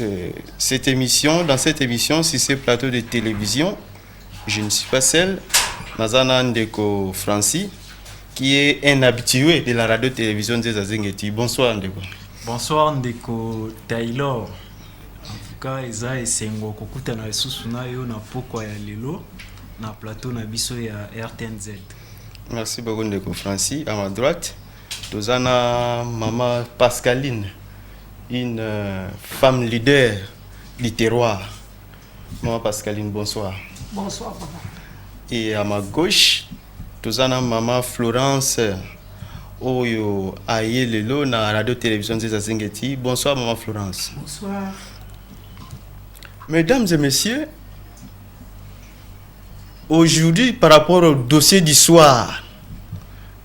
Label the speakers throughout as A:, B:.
A: Euh, cette émission, dans cette émission, si c'est plateau de télévision, je ne suis pas seul. Mazana Ndeko Francis, qui est un habitué de la radio-télévision des Azengeti. Bonsoir Ndeko. Bonsoir Ndeko
B: Taylor. En tout cas, eza esengo kokutana lisusu na yo na pokwa ya lelo na plateau na biso ya RTNZ. Merci
A: beaucoup Ndeko Francis. À ma droite, toza na mama pascaline une euh, femme leader du terroir mama pascaline bonsoir bonsoir papa
C: et à ma
A: gauche toza na mama florence oyo aye lelo na radio télévision nzeza zengeti bonsoir mama florence bonsoir mesdames et messieurs aujourd'hui par rapport au dossier du soir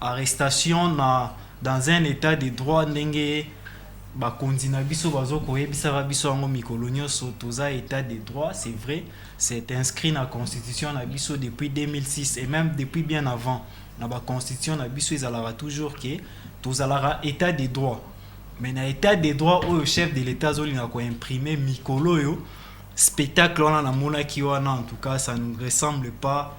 B: Arrestation na dans un etat de droit ndenge ba konzi na biso bazo ko yebisaka biso yango mikolo nioso toza etat de droit c'est vrai c'est inscrit na constitution na biso depuis 2006 et meme depuis bien avant na ba constitution na biso ezalaka toujours que tozalaka etat de droit mais na etat de droit oyo chef de l'etat azolinga ko imprimer mikolo oyo spectacle wana namonaki wana en tout cas ça ne ressemble pas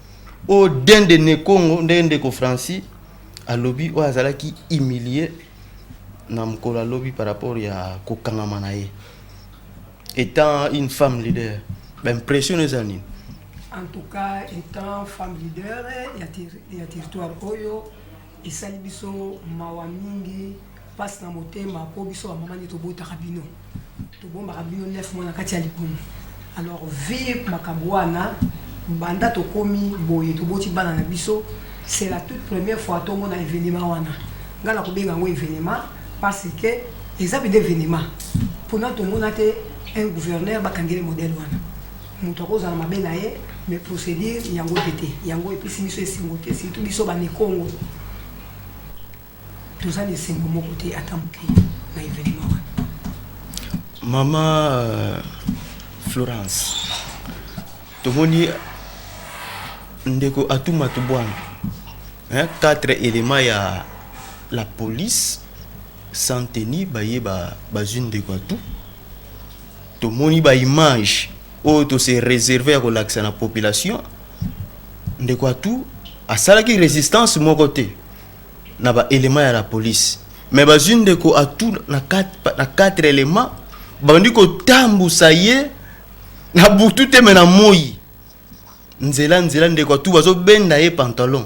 A: o dende nekongo ndenge ndeko francis alobi oyo azalaki humilie na mokolo ya lobi par rapport ya kokangama na ye étant une femme leader baimpression eza nini en tout
C: cas étant femme leader ya, ter ya territoire oyo Esali biso mawa mingi, pasi na motema po biso ba mama nde tobotaka bino. Tobombaka bino 9 mois na kati ya libumu. Alors vie makambo wana banda tokomi boye toboti bana na biso c'est la toute première fois tomona evenement wana. Nga na kobenga yango evenement parce que eza mpenza evenement. Pona tomona te un gouverneur bakangeli modèle wana. mutu akozala mabe na ye mais procedure yango mpe te yango epesi biso esengo te surtout biso banikongo toza na esengo moko te ata moke na evenement wana mama
A: euh, florence tomoni ndeko atuma tubwana hein, quatre éléments ya la police sans tenir baye bazwi ba ndeko atu Tomoni ba images oyo to se reserver ya kolakisa na population. Ndeko Atu asalaki resistance moko te na ba elements ya la police. Mais bazwi ndeko Atu na quatre, na quatre elements babandi kotambusa ye na butu te me na moi nzela nzela ndeko Atu bazobenda ye pantalon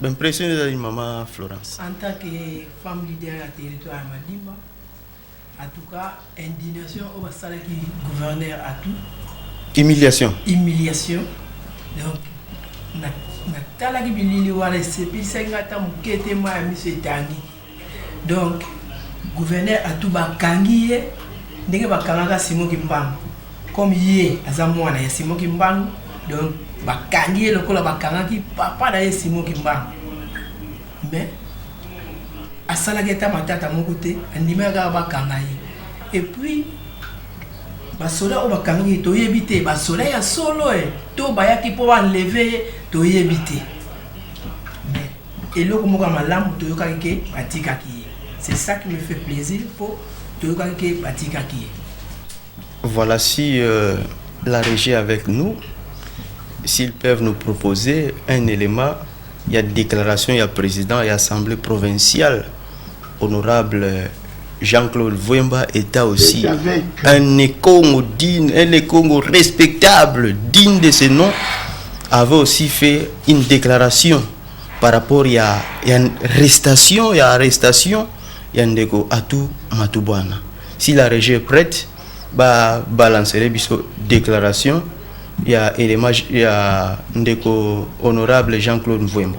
A: ba impression ezali mama florence en tant que
C: femme leader ya territoire ya madimba en tout cas indignation oyo basalaki gouverneur atu humiliation
A: humiliation
C: donc natalaki bilili wana esepelisaki nga ata moke te ma ya miso etangi Donc gouverneur atout ba kangi ye ndenge ba kangaka Simon Kimbangu comme ye aza mwana ya Simon Kimbangu donc ba kangi ye lokola ba kangaki papa na ye Simon Kimbangu mais asalaki ata matata moko te andimaki kaka bakanga ye et puis basoda oyo bakangaki ye toyebi te basoda ya solo e to bayaki mpo banleve ye toyebi te Eloko moko ya malamu toyokaki ke batikaki ye c'est ça qui me fait plaisir po toyokaki ke batikaki ye.
A: Voilà si euh, la régie avec nous s'ils peuvent nous proposer un élément il y a déclaration il y a président il y a assemblée provinciale honorable Jean-Claude Vwemba est aussi un Ekongo digne, un Ekongo respectable, digne de ce nom, avait aussi fait une déclaration par rapport à ya arrestation, ya arrestation ya ndeko Atou Matubwana. Si la régie est prête, ba balancerait biso déclaration ya élément ya ndeko honorable Jean-Claude Vwemba.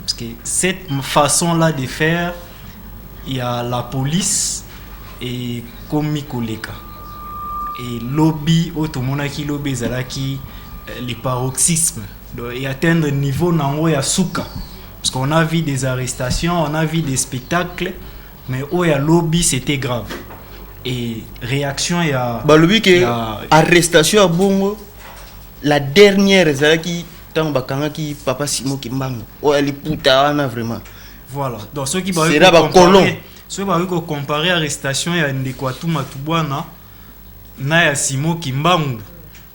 B: Parce que cette façon là de faire il y a la police et komi koleka et lobby oyo tomonaki lobi ezalaki euh, le paroxysme donc et atteindre niveau nango ya suka parce qu'on a vu des arrestations on a vu des spectacles mais oyo ya lobi c'était grave et réaction ya balobi ke ya-
A: arrestation ya bongo la dernière ezalaki ntango bakangaki papa simo kimbangu oyo oh, aliputa wana vraiment voilà donc
B: soki sera bacolon soki bakoki kocompare arrestation ya ndeko atuma tubwana na ya simo kimbangu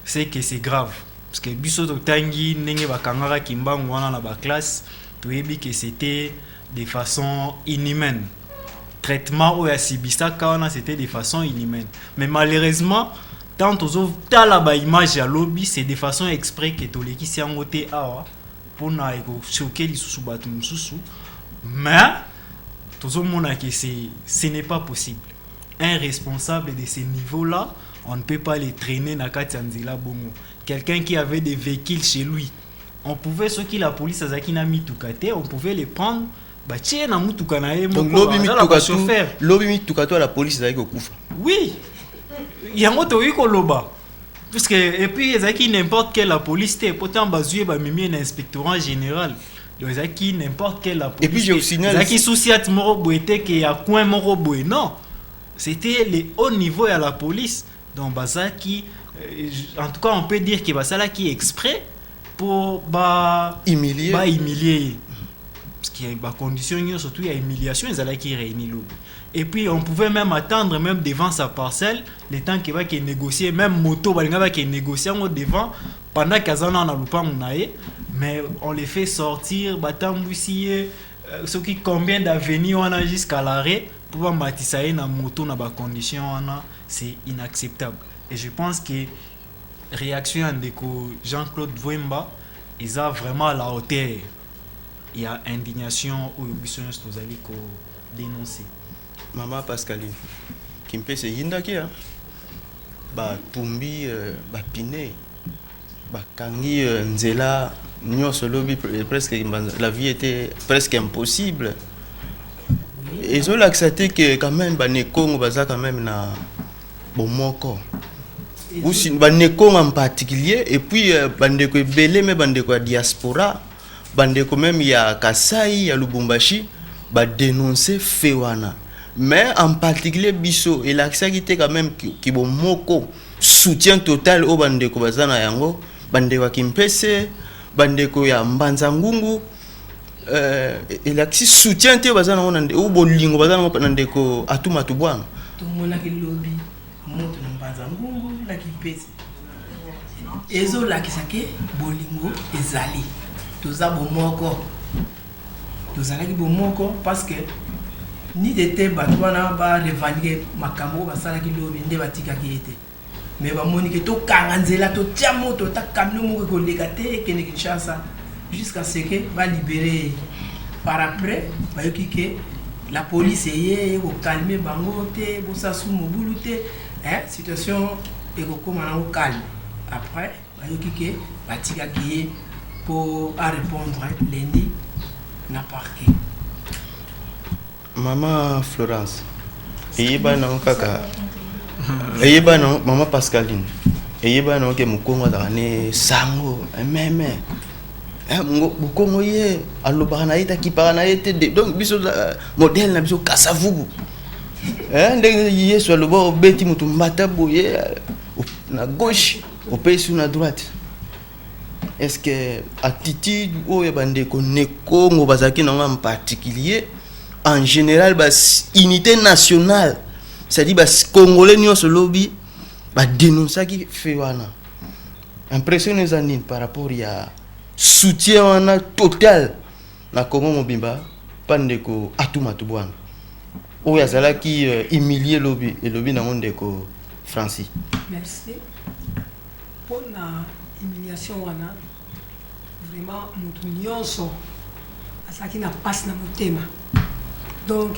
B: c'est que c'est grave parce que biso totangi ndenge bakangaka kimbangu wana na baklasse toyebi que c'était de façon inhumaine traitement oyo asibisaka wana c'était de façon inhumaine mais malheureusement tant tozotala baimage ya lobi c'est de façon exprès ke tolekisi yango te awa mpona ekosoke lisusu bato mosusu mais tozomona ke ce n'est pas possible un responsable de ce niveau là on ne peut pas le traîner na kati ya nzela bongo quelqu'un qui avait des véhicules chez lui on pouvait soki la police azalaki na mituka te on pouvait le prendre batie ye na motuka na ye donc lobi mituka
A: tu lobi mituka tu ya la police ezalaki kokufa oui
B: yango tokoki koloba puisque et puis ezalaki n'importe quelle la police te po ntango bazwi ye bamemi ye na inspectorat général donc ezalaki n'importe quelle la police et puis je vous signale ezalaki
A: souciate moko
B: boye te ke ya coin moko boye non c'était le haut niveau ya la police Donc bazaki euh, en tout cas on peut dire que basalaki exprès pour ba humilier ba humilier parce que ba condition nyonso tout ya humiliation ezalaki réuni lobi et puis on pouvait même attendre même devant sa parcelle le temps que bake négocier même moto balinga bake négocier yango devant pendant kaza na na lupangu na ye mais on les fait sortir batambwisi ye euh, soki combien d'avenue wana jusqu'à l'arrêt mpo bamatisa ye na moto na bacondition wana c'est inacceptable et je pense que réaction ya ndeko Jean-Claude Vwemba eza vraiment à la hauteur ya indignation oyo biso nyonso tozali ko dénoncer mama
A: Pascaline kimpese eyindaki ya batumbi euh, bapine Bakangi nzela nionso lobi presque la vie etait presque impossible. Ezo lakisa te que quand même ba Nekongo baza quand même na bomoko. Ba Nekongo en particulier et puis euh, ba ndeko ebele mais ba ndeko ya diaspora, ba ndeko même ya Kasai, ya Lubumbashi ba denoncer fait wana. Mais en particulier biso elakisaki te quand même ki bomoko. soutien total oyo bandeko baza na yango bandeko ya kimpese bandeko ya mbanza ngungu euh, elakisi soutien te baza nango o bolingo baza nango na ndeko atumatu bwana tomonaki
D: lobi moto na mbanza ngungu na kimpese ezolakisa ke bolingo ezali toza bomoko Tozalaki bomoko parce que nid ete bato wana ba revendique makambo oyo basalaki lobi nde batikaki ye te mais bamoni ke tokanga nzela totia moto ata camion moko ekoleka te ekende kinshasa jusqu'à ce que balibere ye par après bayoki ke la police eye eye kokalme bango te bosasu mobulu te eh, situation ekokoma nango calme après Bayoki ke batikaki ye po a repondre lundi na parquet. Mama
A: Florence, eyebani nango kaka eyebani nango mama Pascaline, eyebani nango ke mokongo azalaka ne sango meme Eh, bokongo ye alobaka na ye te akipaka na ye te donc biso eh, modele na biso kasavubu eh, ndenge yesu aloba obeti moto mbata boye na gauche Opesi na droite. Est-ce que attitude oyo bandeko nekongo bazalaki nango en particulier en général ba unité nationale c'est-à-dire ba congolais nyonso lobi ba dénonçaki fait wana impression eza nini par rapport ya soutien wana total Na Congo mobimba pa ndeko Atuma Tubwanga oyo azalaki euh, humilie lobi elobi nango ndeko Francis. Merci
C: mpo na humiliation wana vraiment moto nyonso azalaki na mpasi na motema donc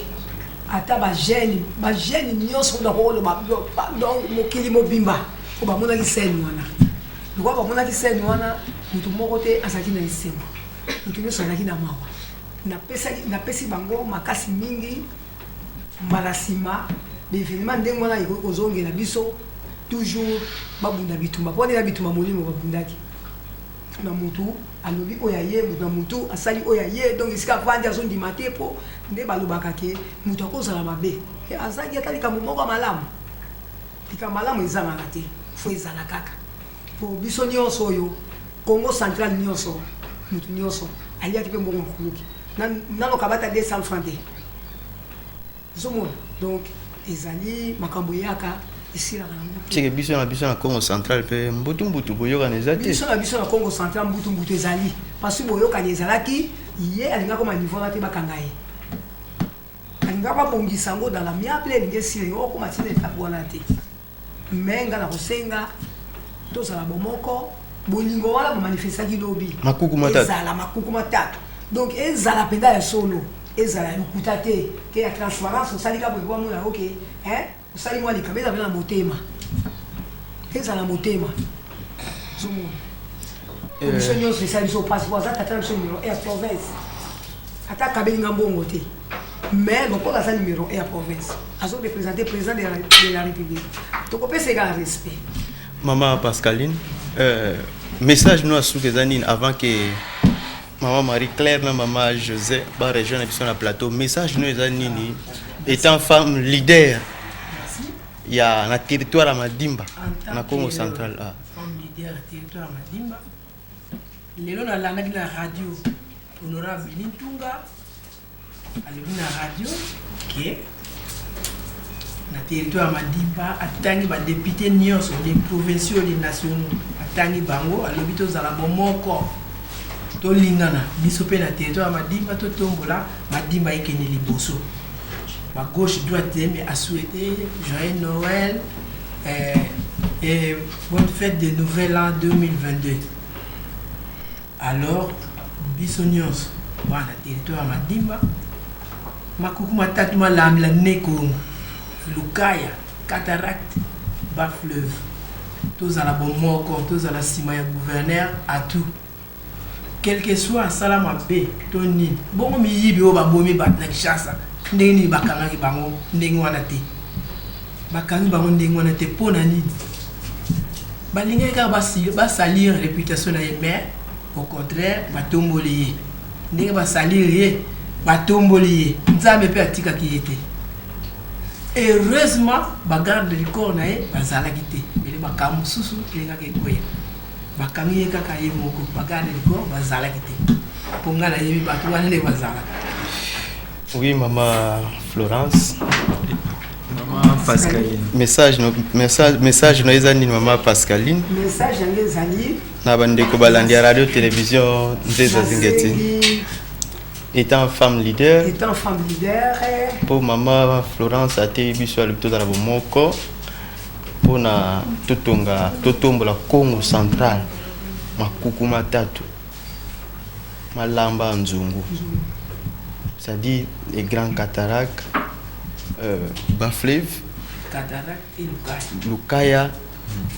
C: ata bagene bagene nyonso na koloba donc mokili mobimba mpo bamonaki sene wana lokwa bamonaki sene wana moto moko te azalaki na esengo Moto nyonso azalaki na mawa. Napesi bango makasi mingi. Mbala nsima, ba evenements ndenge wana ekoki kozongela biso, toujours babunda bitumba. Mpo nde na bitumba molimo babundaki. Na motu alobi oyo aye, motu na motu asali oyo aye, donc esika avandi azondima te mpo nde balobaka ke motu akozala mabe azangi ata likambo moko ya malamu. Likambo malamu ezangaka te, faut ezala kaka. Po biso nionso oyo Kongo central nionso mutu nionso aliaki pe mbongo mokuluki nanu kabata 200 francs te ozomona donc ezali makambo eyaka esilaka na moto
A: tike biso na biso na congo central mpe mbutumbutu boyokana eza te biso na biso na congo central
C: mbutumbutu ezali parce boyokani ezalaki ye alingaki koma niveau na te bakanga ye alingaki babongisa yango dans la miable elingi esila ye okoma tina etape wana te Mais nga na kosenga tozala bomoko bolingo wana bo manifestaki lobi makuku matatu ezala makuku matatu donc ezala mpenza ya solo ezala lokuta te ke ya transparence osali kaka boye po amona ok hein osali mwa likama ezala mpe na motema ezala motema zomona eh. biso nyonso esali biso mpasi po aza tata na biso numero air province ata akabelinga mbongo te mais lokola aza numero ya province azo represente président de la, de la république tokopesa eka respect mama
A: pascaline euh, message no asuka eza nini avant ke mama marie claire na mama josé baregion na biso na plateau message no eza nini étant femme leader ya na territoire ya madimba na congo central ah.
D: lelo nalandaki na radio honorable Billy Ntunga alobi na radio ke na territoire ya Madiba atangi ba députés nyonso des provinciaux des nationaux atangi bango alobi tozala bomoko tolingana biso mpe na territoire ya Madiba totombola Madiba ekende liboso ba gauche droite mais a souhaité joyeux Noël eh, eh, Bonne fete de nouvel an 2022 alors biso nyonso bana territoire madimba makuku matatu malambela ne kongo lukaya cataracte bas fleuve tozala bomoko tozala nsima ya gouverneur atout quelque soit asala mabe to nini bongo miyibi oyo babomi bato na kishasa ndenge nini bakangaki bango ndenge wana te bakangi bango ndenge wana te mpo na nini balingaki kaka basalire reputation na ye mais au contraire batomboli ye ndenge basalire ye batomboli ye nzambe mpe atikaki ye te heureusement bagarde du corps na ye bazalaki te mele makambo mosusu elingaki ekoya Bakangi ye kaka ye moko ba garde du corps bazalaki te mpo ngai nayebi bato wana nde bazalaka.
A: Oui mama Florence.
B: Pascaline. Message
A: no message message no eza nini mama Pascaline? Message yango ezali
C: na bandeko
A: balandi ya radio télévision Nzeza Zingeti. Étant femme leader. Étant femme leader. Pour maman Florence ateyi biso alobi tozala bomoko. Pona totonga totombola Kongo central makuku matatu malamba nzungu c'est-à-dire les grands cataractes euh, Bafleve Lukaya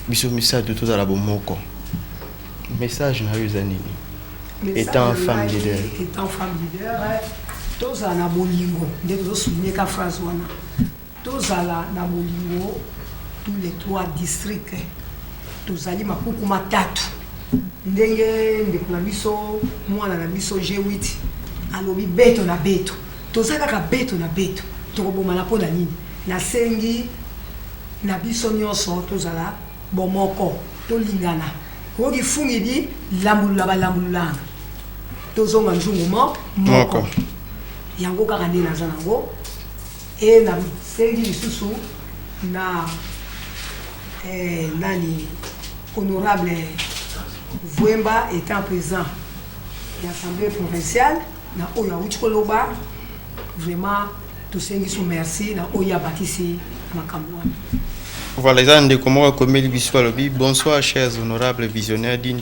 A: biso misato tozala bomoko message na yo eza nini étant femme leader étant femme leader
C: tozala na bolingo nde tozosouligne ka phrase wana Tozala na bolingo tous les trois districts tozali makuku matatu ndenge ndeko na biso mwana na biso G8 alobi beto na beto toza kaka beto na beto tokobomana mpo na nini nasengi na biso nyonso tozala bomoko tolingana oyoki fungi di lambulula balambululana tozonga nzungu mo moko yango kaka nde naza nango Et na sengi lisusu na eh, nani honorable Vuemba étant présent ya assemblée provinciale na oyo awuti koloba vraiment tosengi so merci na oyo abakisi makambo wana Voilà, eza
A: ndeko moko akomeli biso alobi bonsoir chers honorables visionnaires d'une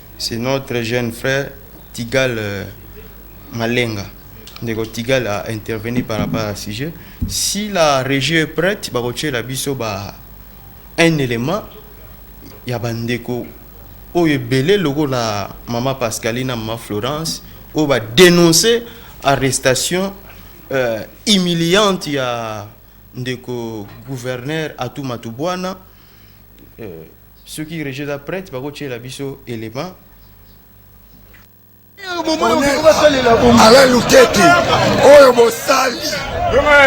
A: C'est notre jeune frère Tigal euh, Malenga. Ndeko Tigal a intervenu par rapport à sujet. Si la régie est prête, la biso ba un élément ya bandeko oyo ebele la mama Pascalina, mama Florence oyo ba dénoncer arrestation euh, humiliante ya ndeko gouverneur Atuma Tubwana euh, Soki regie eza prete bako tiela biso element.
E: Alain Lukeke oyo bosali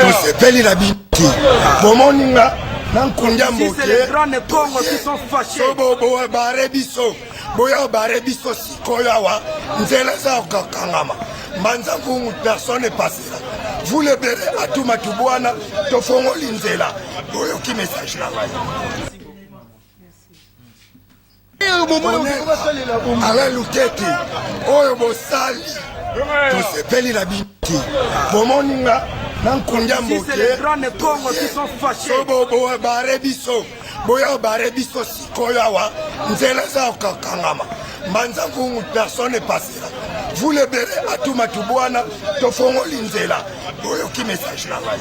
E: tosepeli na bino te bomoni nga na nkundia mboke bare biso boya bare biso sikoyo awa nzela eza kokangama mbanza nkungu personne epasela vous le bere atuma tubwana tofongoli nzela boyoki message na ngai ala luketi oyo bosali tosepeli na bino te bomoni nga na nkundia moke bare biso boya bare biso sikoyo awa nzela eza kokangama mbanza nkungu personne epasera vous le bere atuma tubwana tofongoli nzela boyoki message na ngai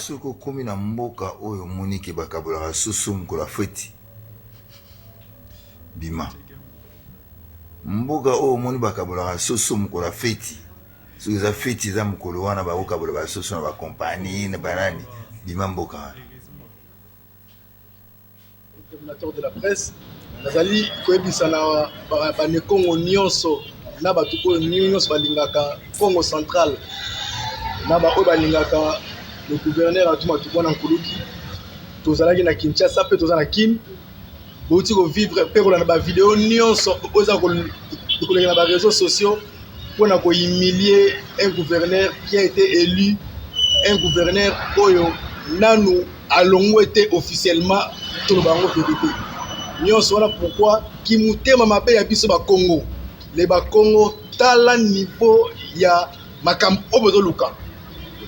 E: Soki
F: okomi na mboka oyo omoni ke bakabolaka soso mokolo ya feti, bima. Mboka oyo omoni bakabolaka soso mokolo ya feti, soki eza feti eza mokolo wana bakokabola ba soso na ba compagnie na banani, bima mboka wana.
G: Coordinateur de la presse nazali koyebisa na banekongo nyonso na bato oyo nyonso balingaka Kongo central na baoyo balingaka le gouverneur Atumatuboana Nkuluki tozalaki na Kinshasa mpe toza na Kin. Bowuti ko vivre mpe kolanda ba video nionso oyo eza koleka na ba reseaux sociaux mpo na ko humilier un gouverneur qui a été elu, un gouverneur oyo nanu alongwe te officiellement, toloba yango verite. Nionso wana pourquoi? Ki mutema mabe ya biso ba kongo, les ba kongo tala niveau ya makambo oyo bozoluka.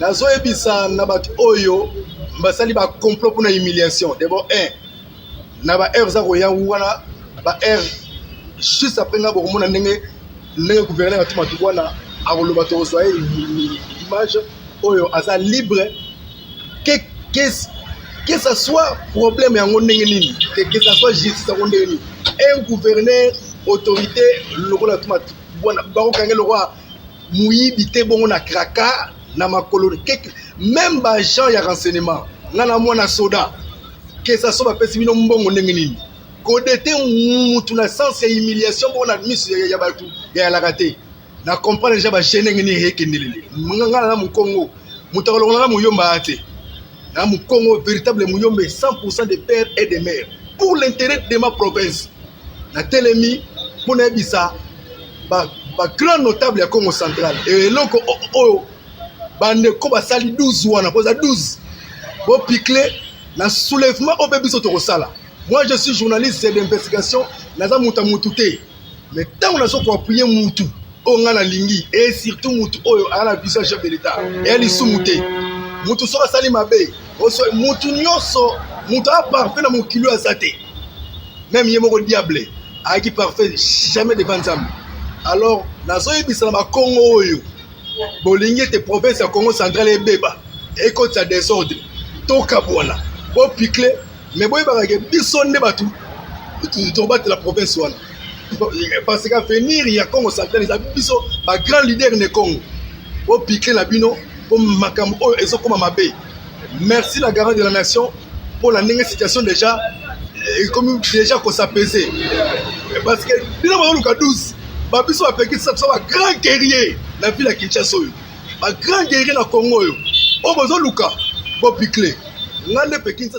G: Nazoyebisa na bato oyo basali ba complot mpo na humiliation, d'abord un, na ba heure za koya wana ba heure juste après nga bokomona ndenge ndenge gouverneur atuma tukwana akoloba tokozwa ye image oyo aza libre que, que, que ça soit problème yango ndenge nini que, que ça soit justice yango ndenge nini un gouverneur autorité lokola atuma tukwana bakokanga lokola moyibi te bongo na kraka na makolo même baagent ya renseignement nga na mwana soda kesa so bapesi bino mbongo ndenge nini kodete mutu na sens ya humiliation moko na miso ya bato ya yalaka te na comprendre deja baje ndenge nini ekendelele nga na mokongo moto akolongola na moyomba a te na mokongo véritable moyombe 100 de père et de mère pour l'intérêt de ma province natelemi mpo nayebisa bagrand ba notable ya congo central eloko oyo bandeko basali 12 wana boza 12 bopicle na soulèvement oyo mpe biso tokosala moi je suis journaliste d'investigation naza moto ya motu te mais ntango nazo koapuye motu oyo ngai nalingi e surtout motu oyo aya na vision ya chef de l'état eya lisumu te motu soki asali mabe motu nyonso motu aya parfait na mokili oyo aza te meme ye moko diable ayaki parfait jamais devant nzambe alors nazoyebisa na bakongo oyo bolingi ete province ya congo central ebeba ekotisa desordre tokabwana bopikle me boyebaka ke biso nde bato tobatela province wana parce que avenir ya congo central eza biso bagrand leader ne congo bopikle na bino po makambo oyo ezokoma mabe merci la garant de la nation mpo na ndenge situation deja ekomi eh, deja kosapese eh, parce que bino bazoluka 12 babiso bapekisa biso bagrand guerrier na ville ya kinshasa oyo bagrand guerrier na congo oyo oyo bozoluka bobikle ngai nde pekisa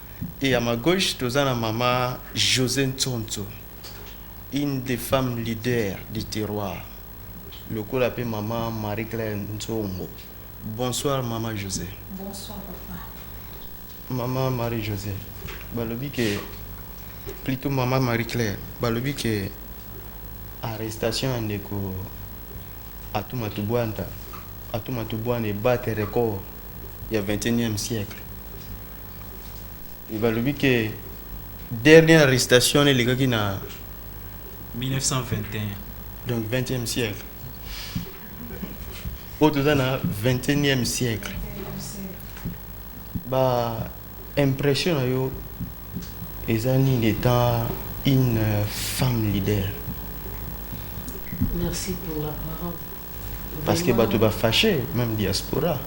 D: Et à
A: ma gauche, toza na mama Jose Ntsonso, une des femmes leaders du terroir. Lokola pe mama Marie-Claire Nzombo. Bonsoir mama Jose. Bonsoir
C: papa. Mama
A: Marie-Jose, balobi ke plutôt mama Marie-Claire, balobi ke arrestation ya ndeko Atuma Tubwanta, Atuma Tubwana ebate record ya 21e siècle. Et balobi que dernière arrestation wana elekaki na 1921
B: donc
A: 20e siècle oyo toza na 21e siècle ba impression na yo eza nini étant une femme leader
D: merci pour la parole parce que
A: bato ba fâche même diaspora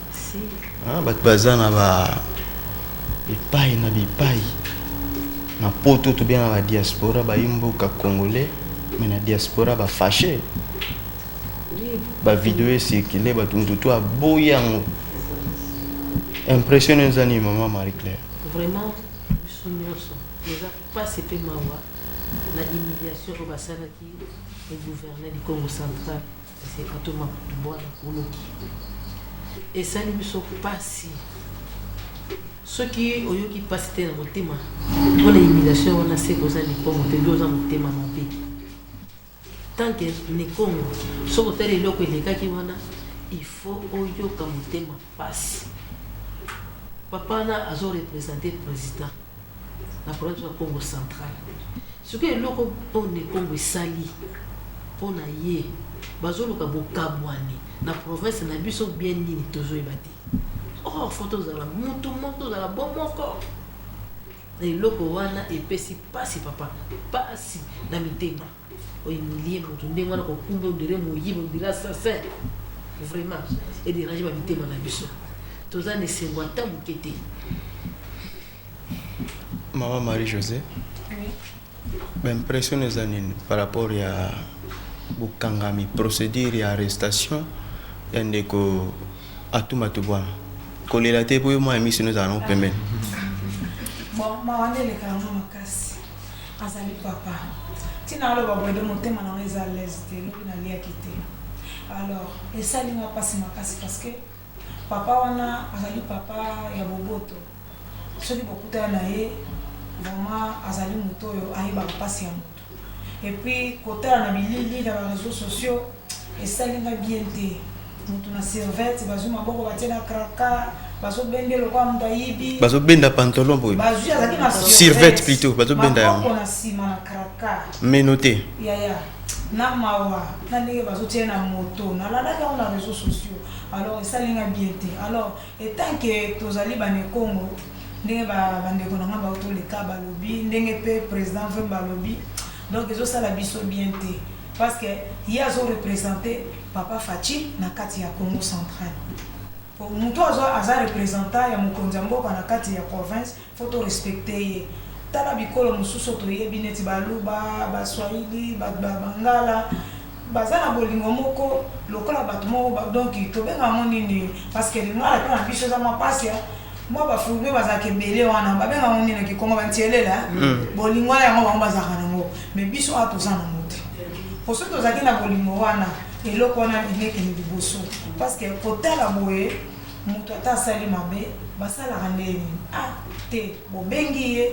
A: ah,
D: bato baza
A: na ba bipai na bipai na poto tobengaka ba diaspora bayi mboka congolais mais na diaspora ba fâche ba video ecircule bato moto to aboyi yango impression eza nini mama marie claire vraiment biso nyonso
D: eza mpasi mpe mawa na humiliation oyo basalaki e gouverner du Congo central c'est Kato Makutu Bwana Kuluki esali biso pasi soki oyoki pasi te na motema mpona humiliation wana se koza likongo te bi oza motema mabe tant que likongo soki otali eloko elekaki wana il faut oyoka motema Pasi. Papa wana azo representer president na problème ya Congo central. Sikoyo eloko One Congo esali mpo na ye bazoluka bokabwani na province na biso bien nini tozoyeba te or oh, fo tozala mutu moko tozala bo moko na eloko wana epesi mpasi papa mpasi na mitema o humilie mutu ndenge wana kokumba on dirait moyibi on dirait assassin vraiment e dérange ba mitema na biso toza na esengo ata moke te
A: mama marie josé
C: baimpression
A: eza nini par rapport ya bokangami procédure ya arrestation ya ndeko atuma tubwana kolela te mpo yo mwa ya miso nozala nango pembeni
C: bon mawa nde elekaa ngo makasi Azali papa ti na aloba boye nde motema na nga eza alaise te lobi na liaki te alors esali nga pasi makasi parce que papa wana azali papa ya boboto soki bokutana na ye vraiment azali moto oyo ayebaka mpasi ya moto epuis kotala na bilili na bareseau sociaux esali nga bien te mutu na servette bazwi maboko batie na kraka bazobende lokola moto ayibi bazobenda pantalon
A: boye bazwi azalaki na
C: servette plutôt
A: bazobenda yango
C: na
A: nsima na kraka meno
C: te
A: yaya
H: na mawa na ndenge bazotia na moto nalalaki yango na réseau sociaux alors esali nga bien te alors etant que tozali banekongo ndenge bandeko na nga bautoleka balobi ndenge mpe président vemba alobi Donc ezo sala biso bien te parce que ye azo representer papa Fatshi na kati ya Congo central. Po mutu azo aza representant ya mokonzi ya mboka na kati ya province faut to respecter ye. Tala bikolo mosusu toyebi neti baluba, baswahili, ba, ba, bangala baza na bolingo moko lokola bato moko ba- donc tobenga yango nini parceke lingala mpo na biso eza mwa mpasi eh. mwa bafourbe bazalaka ebele wana babenga yango nini na kikongo bantielela eh. bolingo wana yango bango bazalaka nango mais biso awa toza nango te po soki tozalaki na bolingo wana eloko wana elekende liboso parceke kotala boye moto ata asali mabe basalaka nde nini ah te bobengi ye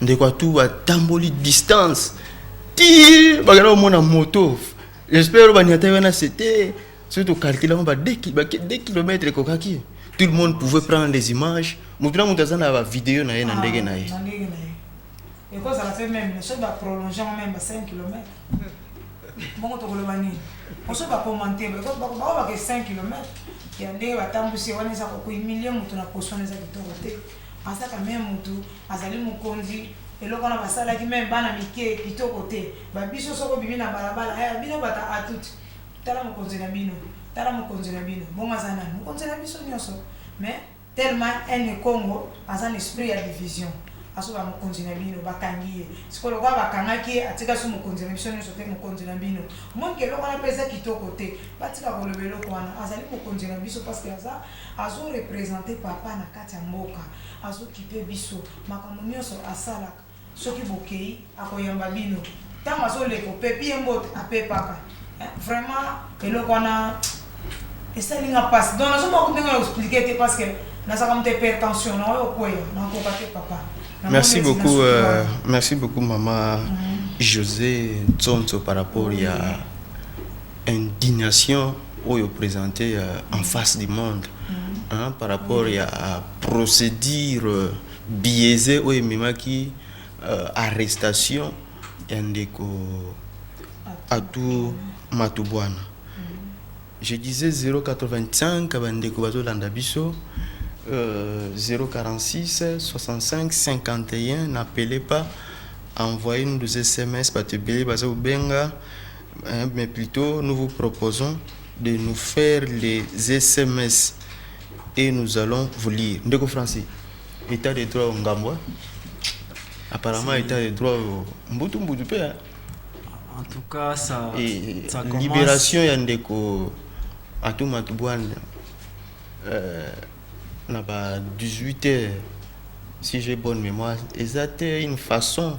A: ndeko atu atamboli distance ti bakenda komona moto j'espère oyo baniata ye wana sete soki tokalkile yango ba 2 kilomètre ekokaki tout le monde pouvait prendre les images moto na moto aza na bavideo na ye na ndenge na ye ah,
H: ekozala mpe meme soki baprolonge yango meme ba 5 kilomètre bongo tokoloba nini oso bakomante baobake 5 kilomètre ya ndenge batambwisi wana eza kokuimilie moto na poso wana eza kitoko te Pasaka meme mutu azali mokonzi eloko wana basalaki meme bana mike kitoko te ba biso soko bimi na balabala eh bino bata atut tala mokonzi na bino tala mokonzi na bino bongo aza nani mokonzi na biso nionso mais tellement ene congo aza na esprit ya division asoba mokonzi na bino bakangi ye siko lokola bakangaki ye atika so mokonzi na biso nyonso te mokonzi na bino monke eloko wana mpe eza kitoko te batika koloba eloko wana azali mokonzi na biso parce que aza Azo represente papa na kati ya mboka azo kipe biso makambo nionso asalaka soki bokeyi akoyamba bino ntango azo leka opepi ye mbote apepaka eh, vraiment eloko wana esali nga mpasi donc nazo moko ndenge na explike te parce que nazalaka moto hypertension na oyo okweya nakoka te papa merci beaucoup euh,
A: merci beaucoup mama mm -hmm. josé ntsonso par rapport ya mm -hmm. indignation oyo presente en face du monde hein, par rapport ya procédure biaise oyo ememaki euh, arrestation ya ndeko Atou Matubwana. Je disais 085 bandeko bazolanda biso euh, 046 65 51 n'appelez pas envoyez nous des SMS bato ebele baza kobenga mais plutot nous vous proposons de nous faire les sms et nous allons vous lire ndeko français état de droit ngambo hein? apparemment état de droit mbutu mbutu pe hein?
B: en tout cas ça, et, ça commence... libération ya
A: ndeko atuma tubwana euh, na ba 18 heures si j'ai bonne mémoire eza te une façon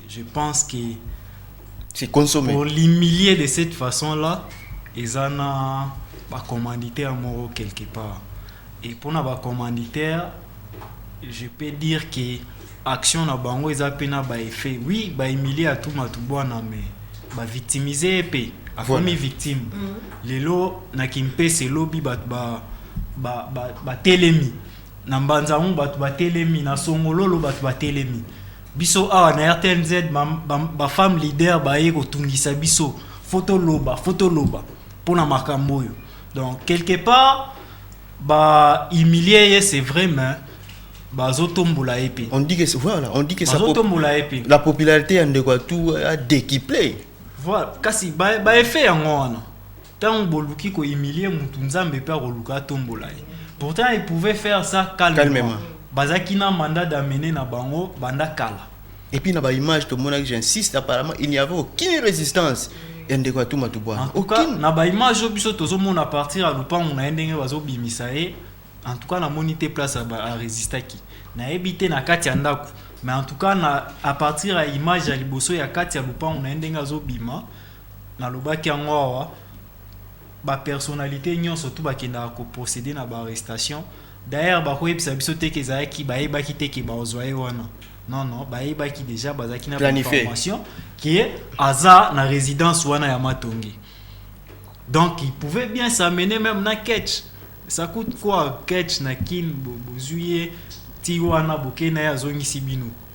B: Je pense que c'est
A: consommé. Pour l'humilier de
B: cette façon-là, ils en ont ba commanditaire moro quelque part. Et pour na ba commanditaire, je peux dire que action na bango ils ont pena ba effet. Oui, ba humilier à tout matubwana mais ba victimiser épée. A voilà. victime. Mm -hmm. Lelo na kimpe c'est lobby ba ba ba, ba, ba telemi. Na mbanza bato ba telemi, na songololo bato ba telemi. Biso awa na RTNZ ba, ba, ba femme leader baye kotungisa biso foto loba foto loba mpo na makambo oyo donc quelque part ba humilie ye c'est vrai mais bazotombola ye mpe on dit que voilà on dit
A: que ça bazotombola ye mpe la popularité
B: ya ndeko ya
A: tout a décuplé voilà kasi
B: ba, ba effet yango wana Tango boluki ko humilier mutu nzambe pe akoluka atombola ye pourtant il pouvait faire ça calmement, calmement. bazalaki na mandat d'amener na bango banda kala. Et puis na ba image
A: tomonaki j'insiste apparemment il n'y avait aucune résistance ya ndeko ya Tuma Tubwana. En tout cas aucune.
B: na ba image oyo biso tozomona à partir ya lupangu na ye ndenge bazobimisa ye en tout cas namoni te place a resistaki nayebi te na kati ya ndako mais en tout cas na à partir ya image ya liboso ya kati ya lupangu na ye ndenge azobima Nalobaki yango awa, ba personnalites nionso tout bakendaka ko proceder na ba arrestations. D'ailleurs, bakoyebisa biso te que ezalaki bayebaki te que bakozwa ye wana. Non, non, bayebaki dejà, bazalaki na ba Planifier. informations que aza na residence wana ya Matonge. Donc, il pouvait bien s'amener même na catch. Ça coûte quoi catch na kin bo- bozwi ye ti wana boke na ye azongisi bino.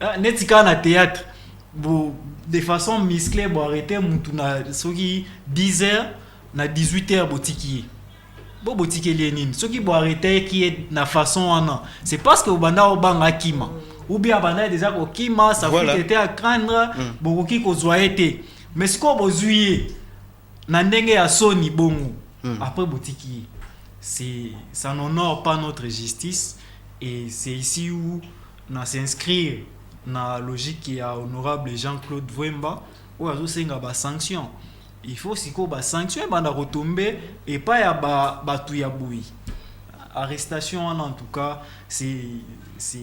B: Ah, neti kaka na théâtre bo de façon musclée bo arrête mutu na soki 10 heures na 18 heures botiki ye bo botikeli ye nini soki bo arrêtaki ye na façon wana c'est parce que obanda obanga akima ou bien abanda deja kokima sa Voilà. voilà. était à craindre Mm. bokoki kozwa ye te mais sikoyo bozwi ye na ndenge ya soni bongo Mm. après botiki ye c'est ça n'honore pas notre justice et c'est ici où Na s'inscrire na logique ya honorable Jean Claude Vuemba oyo azo senga ba sanctions. Il faut sikoyo ba sanctions ebanda ko tomber epai ya ba batu ya boye. Arrestation wana en tout cas c'est c'est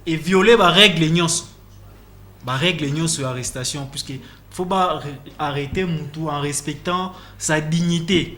B: e violer ba règles nionso. Ba règles nionso ya arrestation puisque faut ba arreter mutu en respectant sa dignite.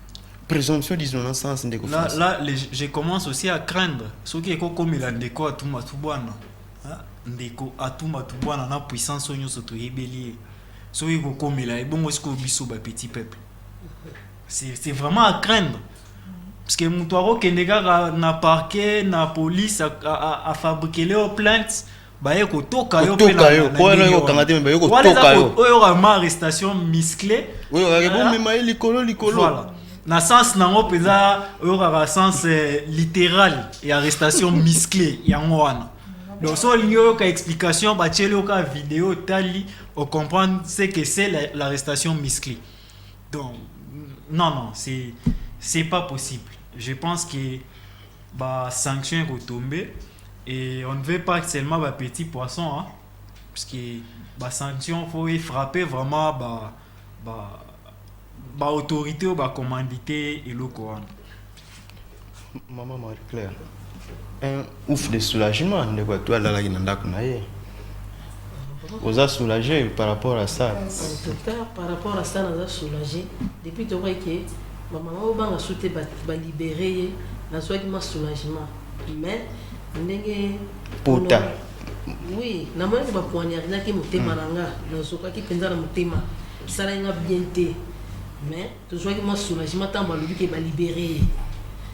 A: Présomption d'innocence ndeko Là, François. là les-
B: je commence aussi à craindre soki ekokomela ndeko atuma tubwana hein, ndeko atuma tubwana na puissance oyo nyonso toyebeli ye soki ekokomela ye bongo sikoyo biso ba petit peuple c'est c'est vraiment à craindre parce que moto akokende kaka na parquet na police a- a- a- afabrikele yo plainte baye kotoka yo mpe na yo mpo wana yo kokanga te me
A: baye kotoka yo oyo oyoka ma arrestation
B: muscle oyo okake bomema
A: ye likolo likolo voilà na
B: sens nango mpenza oyokaka sens eh, littéral ya arrestation muscle yango wana donc so olingi oyoka explication batyeli oyoka video otali ocomprendre ce que c'est l'arrestation muscle donc non non c'est c'est pas possible je pense que ba sanction eko tombe et on ne veut pas seulement ba petit poisson hein, parce que ba sanction faut e frapper vraiment ba ba ba autorité oyo ba commandite eloko wana.
A: Maman Marie Claire, un ouf de soulagement ndeko ya toi alalaki na ndako na ye oza soulage par rapport à ça. En tout cas par rapport
D: à ça naza soulage depuis tokoyaki Ba maman bo banga su te ba ba libere ye na zuaki mwa soulagement mais ndenge Pota.
A: Oui
D: na monaki ba poignardaki motema na nga na zokaki penza na motema esalaki nga bien te mais to zuaki mwa soulagement tango ba lobi ke ba libere ye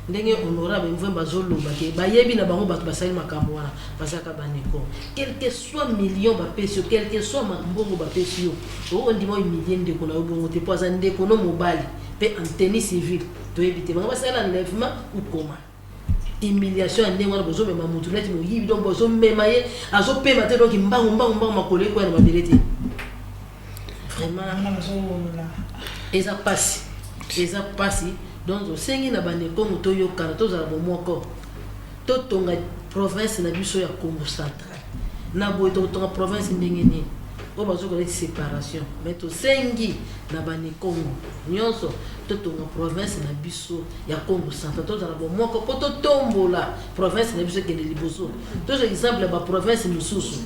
D: ndenge honorable mvwemba azo loba ke ba yebi na bango batu ba sali makambu wana ba zalaka ba ndeko quelque soit million ba pesi yo quelque soit mbongo ba pesi yo Okoki kondima o humilier ndeko na yo bongo te mpo aza ndeko no mobali mpe en tenue civile toyebi te bango basala enlèvement ou comment? Humiliation ya ndenge wana bozomema mutu neti moyibi donc bozomema ye azopema te donc mbangu mbangu mbangu makolo ekoya na mabele te vraiment eza pasi eza pasi donc osengi na bandekongo toyokana tozala bomoko totonga province na biso ya congo centre Na boye tokotonga province ndenge nini? Oyo bazo koloba eti separation mais tosengi na bani kongo nionso totonga province na biso ya kongo central tozala bomoko po totombola province na biso ekende liboso tozwa exemple ya ba province mosusu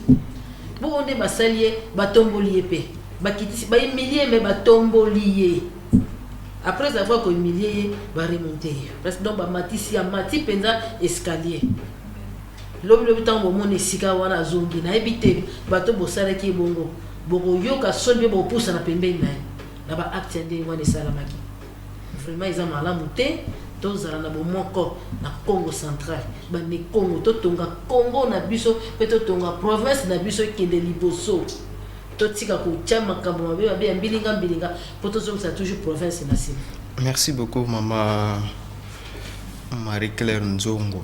D: bongo nde basali ye batomboli ye pe bakitisi ba humilie mais batomboli ye après avoir ko humilie ye ba remonte ye donc bamatisi amati mpenza escalier Lobi lobi tango bomoni esika wana azongi nayebi te bato bosalaki ye bongo bokoyoka soni pe bokopusana pembeni na ye na ba actes ya ndenge wana esalamaki vraiment eza malamu te tozala na bomoko na Kongo central bande Kongo totonga Kongo na biso pe totonga province na biso ekende liboso totika kotia makambo mabe mabe ya mbilinga mbilinga po tozongisa toujours province na sima. Merci beaucoup
A: maman Marie Claire Nzongo.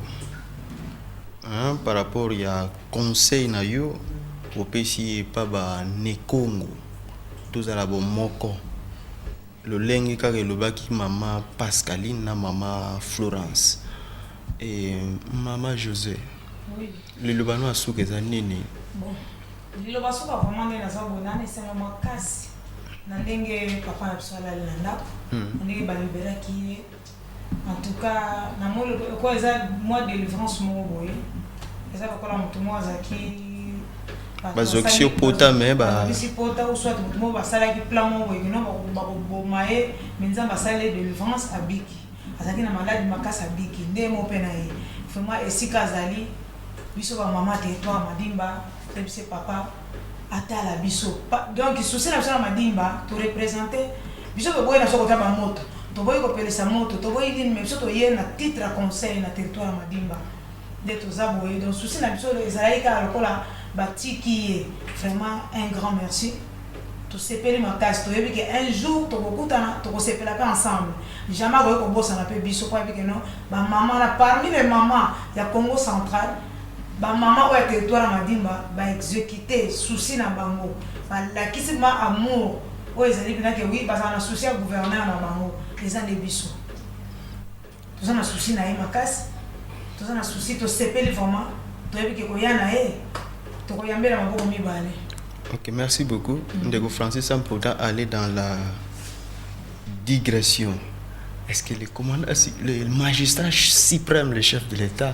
A: Hein par rapport ya conseil na yo opesi epa ba nekongo tozala bomoko lolenge kaka elobaki mama pascaline na mama florence e mama jose
H: liloba no ya
A: suka eza nini bon
H: liloba suka vraiment nde naza boye na esengo makasi na ndenge papa na biso alali na ndako hmm. na ndenge baliberaki ye En tout cas na moni lokola eza mwa delivrance moko boye eza lokola moto moko azalaki
A: bazwakisi yo pota me bazwakisi pota ou
H: soit moto moko basalaki plan moko boye kino bakoboma ye me nzambe asali ye delivrance abiki azalaki na maladi makasi abiki nde mo mpe na ye vraiment esika azali biso bamama territoire madimba tebise papa atala biso pa donc souci na biso na madimba to represente biso toboyi na biso kota ba moto toboyi kopelisa moto toboyi nini mais biso toye na titre ya conseil na territoire ya madimba nde toza boye donc souci na biso ezalaki kaka lokola batiki ye vraiment un grand merci tosepeli makasi toyebi ke un jour tokokutana tokosepela pe ensemble jamais akoki kobosana pe biso po ayebi ke no ba maman na parmi les maman ya congo central Ba maman oyo ya territoire ya madimba ba execute souci na bango ba lakisi mwa amour oyo ezali pena ke oui bazala na souci ya gouverneur na bango eza nde biso toza na souci na ye makasi toza na souci tosepeli vraiment toyebi ke koya na ye tokoyambela maboko mibale Ok, merci
A: beaucoup. Mm -hmm. Ndeko Francis Sampoda aller dans la digression. Est-ce que le, commandant, le magistrat suprême, le chef de l'État,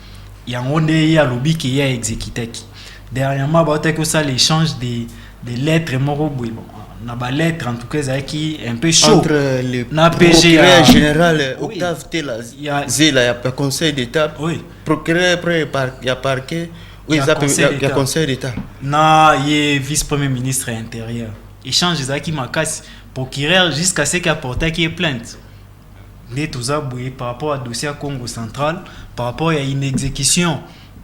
B: Yango nde ye alobi ke ye a executaki. Dernièrement bautaki kosala echange de, de lettres moko boye bon, na ba lettres en tout cas ezalaki un peu chaud entre le na
A: PG ya procureur général Oui. Octave Tela Ya- Zela ya ya conseil d'état Oui. procureur premier par ya parquet oyo Ya eza pe- Conseil ya- ya d'État. conseil d'état na ye
B: vice premier ministre ya intérieur échange ezalaki makasi procureur jusqu'à ce que aportaki ye plainte nde toza boye par rapport ya dossier ya Congo central par rapport ya inexecution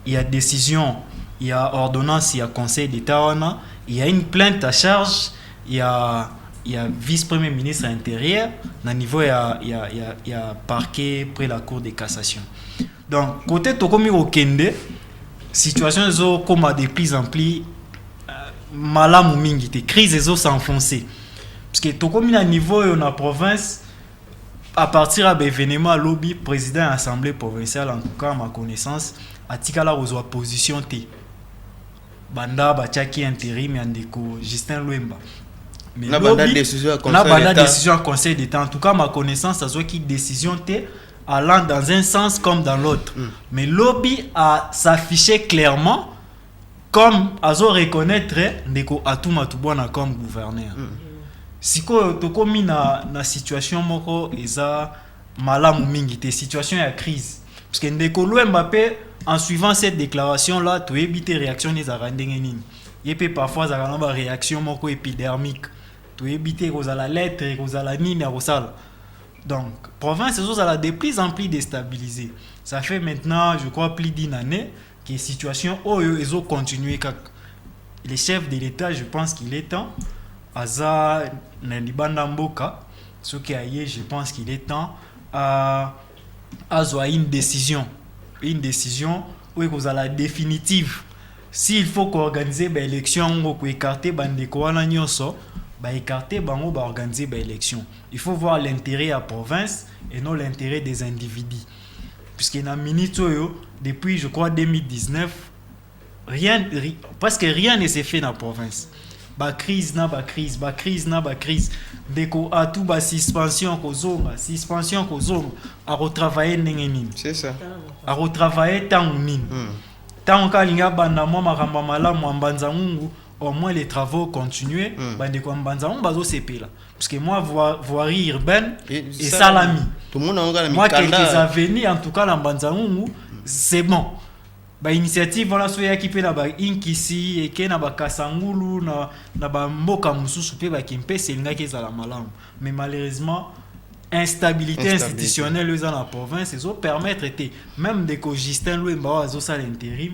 B: ya decision ya ordonnance ya conseil d'etat wana ya une plainte à charge ya ya vice premier ministre ya interieur na niveau ya, ya, ya, ya parquet près la cour de cassation donc kote tokomi kokende situation ezokoma de plus en plus euh, malamu mingi te crise ezo s'enfoncer parce que tokomi na niveau oyo na province A partir ya ba evenements ya lobi, president ya assemblee provinciale en tout cas à ma connaissance atikala kozua position te banda batiaki interim ya ndeko Justin Lwemba. Mais Na banda lobi, decision
A: ya na Conseil
B: banda d'Etat.
A: decision ya
B: Conseil d'Etat. En tout cas, à ma connaissance, azuaki decision te allant dans un sens comme dans l'autre. Mais lobi a s'afficher clairement Comme azo reconnaitre ndeko Atumatu Bwana comme gouverneur. Sikoyo tokomi na na situation moko eza malamu mingi te, situation ya crise. Parce que ndeko Luemba pe en suivant cette declaration là toyebi te reaction naye ezalaka ndenge nini. Ye pe parfois azalaka na ba reaction moko epidermique. Toyebi te ekozala lettre, ekozala nini akosala. Donc province ezozala de plus en plus destabilisee. Ça fait maintenant je crois plus d'une annee que situation oyo ezo continuer kaka le chef de l'etat je pense qu'il est temps aza na libanda mboka soki aye je pense qu'il est temps a azwa une décision une décision oyo ekozala définitive s'il faut koorganiser baélection yango koekarte bandeko wana nyonso baekarte bango baorganiser baélection il faut voir l'intérêt ya province et non l'intérêt des individus puisque na minute oyo depuis je crois 2019 rien ri, parce que rien ne se fait na province ba crise na ba crise ba crise na ba crise ndeko atu ba suspension kozonga suspension kozonga akotravaille ndenge nini c'est ça
A: akotravaille
B: ntango nini ntango hmm. kaka alingi abanda mwa makambo malamu ya mbanza ngungu au moins les travaux continuer hmm. bandeko ya mbanza ngungu bazosepela parce que moi voirie urbaine esalami
A: moi quelques avenues
B: en tout cas na mbanzangungu c'est bon bainitiative wana so eyaki mpe na bainkisi eke na bakasangulu na, na bamboka mosusu mpe bakimpese elingaki ezala malamu mais malheureusement instabilité, instabilité. institutionnelle eza na province ezopermettre te même ndeko justin lwemba oyo azosala interim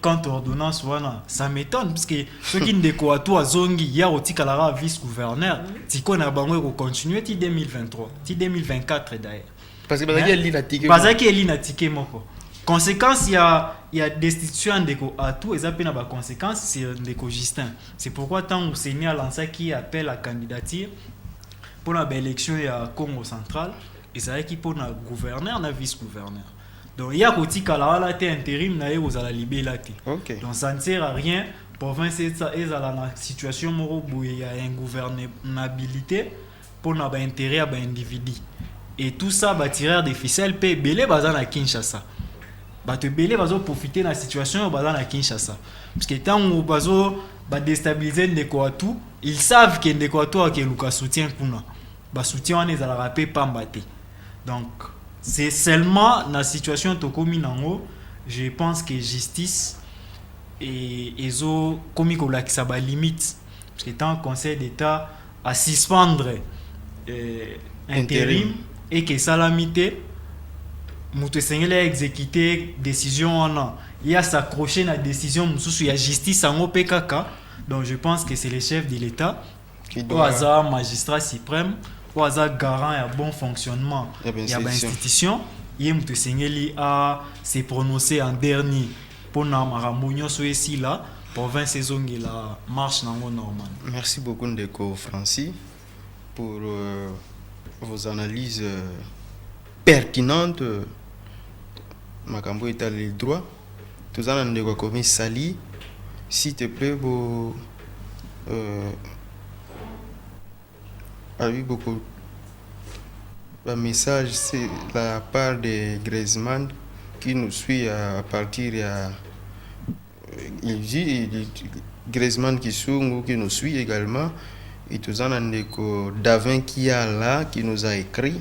B: quant ordonnance wana ça m'étonne parce que soki ndeko atu azongi ye akotikala kaka vice gouverneur sikoyo na bango ekocontinue ti 2023 ti 2024 d'ailleurs parce que bazalaki eli
A: na tike bazalaki eli na tike
B: moko conséquence ya ya destitution ya ndeko atu eza mpe na baconséquence sur ndeko justin c'est pourquoi ntango seni alansaki appel à candidature mpo na baélection ya congo central ezalaki mpo na gouverneur na vice gouverneur Donc ya kotikala wana te interim na ye kozala libela te. Okay. Donc ça ne sert à rien province etsa ezala na situation moko boye ya ingouvernabilité mpo na ba intérêt ya ba individu. Et tout ça ba tireur des ficelles mpe ebele baza na Kinshasa. Bato ebele bazo profiter na situation oyo baza na Kinshasa. Parce que ntango bazo ba destabiliser ndeko Atou, ils savent que ndeko Atou akeluka soutien kuna. ba soutien wana ezalaka pe pamba te donc c'est seulement na situation tokomi nango je pense que justice et ezo komi kolakisa ba limite parce que tant conseil d'état à suspendre euh, interim et que salami te moto esengeli exécuter décision wana ye s'accrocher na décision mosusu ya justice yango pe kaka donc je pense que c'est le chef de l'état oyo aza magistrat suprême oyo aza garant ya bon fonctionnement ya bainstitution ye moto esengeli a se prononcer en dernier mpo na makambo nyonso esila province ezongela marche nango normal merci beaucoup ndeko
A: francis pour euh, vos analyses euh, pertinentes euh, makambo etali droit Toza na ndeko akomi Sali si te plait bo euh, abi boko ba message c'est la part de Griezmann qui nous suit à partir ya euh, il dit il- il- Griezmann Kisungu qui nous suit également et toza na ndeko Davin Kiala qui nous a écrit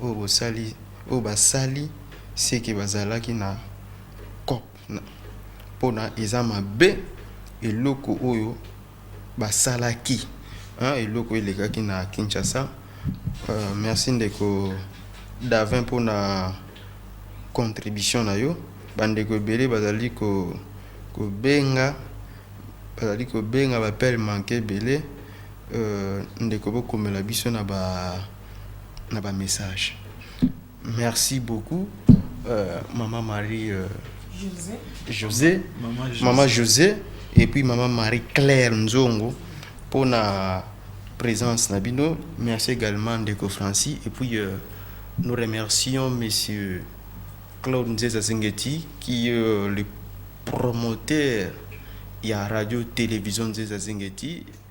A: oyo basali seke bazalaki na coop pona eza mabe eloko oyo basalaki hein eloko elekaki na Kinshasa merci ndeko Davin pona contribution na yo ba ndeko ebele bazali kobenga bazali kobenga ba appel manque ebele ndeko bokomela biso na ba na ba message merci beaucoup euh, maman marie euh, josé, josé. Maman, josé. maman josé et puis maman marie claire nzongo pour na présence na bino merci également ndeko francis et puis euh, nous remercions monsieur claude nzeza zengeti qui est euh, le promoteur ya radio télévision nzeza zengeti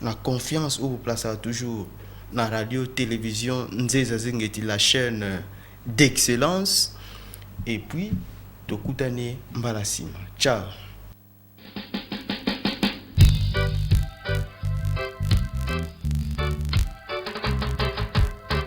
A: Na confiance o placaka toujours na radio television Nzeza Zengeti la chaine d'excellence et puis tokutani mbala sima ciao.